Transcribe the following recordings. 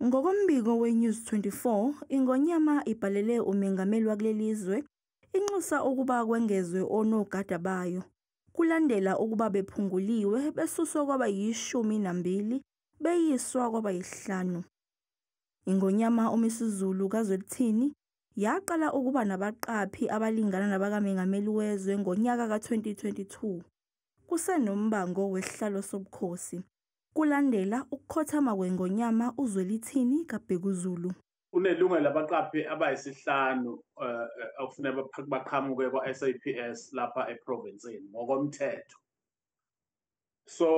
Ngokombiko weNews 24, iNgonyama ibhalele umengameli wakuleli zwe inxusa ukuba kwengezwe onogada bayo kulandela ukuba bephunguliwe besuswa kwaba yishumi nambili beyiswa kwaba yisihlanu. INgonyama uMisuzulu kaZwelithini yaqala ukuba nabaqaphi abalingana nabakamengameli wezwe ngonyaka ka-2022 kusenombango wesihlalo sobukhosi. Kulandela ukukhothama kweNgonyama uZwelithini kaBhekuzulu. Kunelunga labaqaphi abayisihlanu eh, eh, okufuneka baqhamuke kwa-SAPS lapha eprovinsini ngokomthetho. So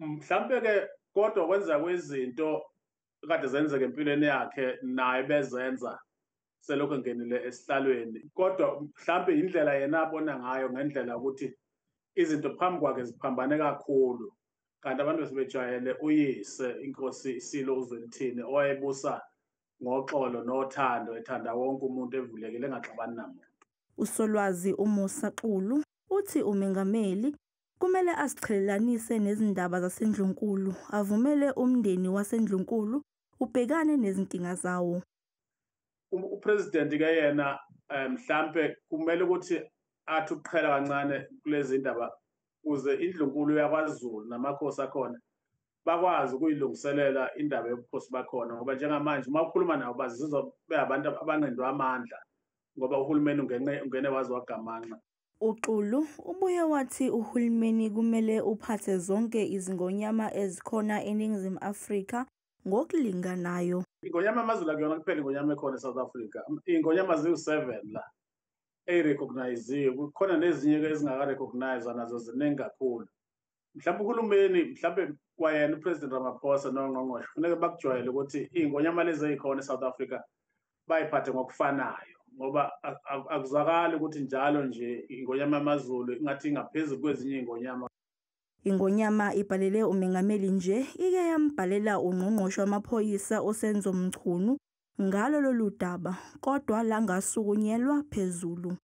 mhlampe-ke kodwa kwenza kwezinto kade zenzeka empilweni yakhe naye bezenza selokhu engenile esihlalweni kodwa mhlawumbe indlela yena abona ngayo ngendlela ukuthi izinto phambi kwakhe ziphambane kakhulu kanti abantu besebejwayele uyise inkosi isilo uzwelithini owayebusa ngoxolo nothando ethanda wonke umuntu evulekile engaxabani namuntu usolwazi umusa xulu uthi umengameli kumele asiqhelelanise nezindaba zasendlunkulu avumele umndeni wasendlunkulu ubhekane nezinkinga zawo um, upresident ke yena eh, mhlambe kumele ukuthi athi ukuqhela kancane kulezi ndaba kuze indlunkulu yakwaZulu namakhosi akhona bakwazi ukuyilungiselela indaba yobukhosi bakhona ngoba njengamanje uma ukhuluma nabo bazizwa beabantu abanqindwa amandla ngoba uhulumeni ungene ungene wazi wagamanxa UXulu ubuye wathi uhulumeni kumele uphathe zonke izingonyama ezikhona eNingizimu Afrika ngokulinganayo. Ingonyama yamazulu akuyona kuphela ingonyama ekhona eSouth Africa. Ingonyama ziwu-seven la eyirecogniziwe kukhona nezinye-ke ezingaka-recognizwa nazo ziningi kakhulu mhlawumbe uhulumeni mhlawumbe kwayena upresident ramaphosa nongqongqoshe kufuneke bakujwayele ukuthi iy'ngonyama lezi eyikhona e-south africa bayiphathe ngokufanayo ngoba akuzwakali ukuthi njalo nje ingonyama yamazulu ingathi ingaphezulu kwezinye iy'ngonyama Ingonyama ibhalele umengameli nje ike yambhalela ungqongqoshe wamaphoyisa uSenzo Mchunu ngalo lolu daba kodwa langasukunyelwa phezulu.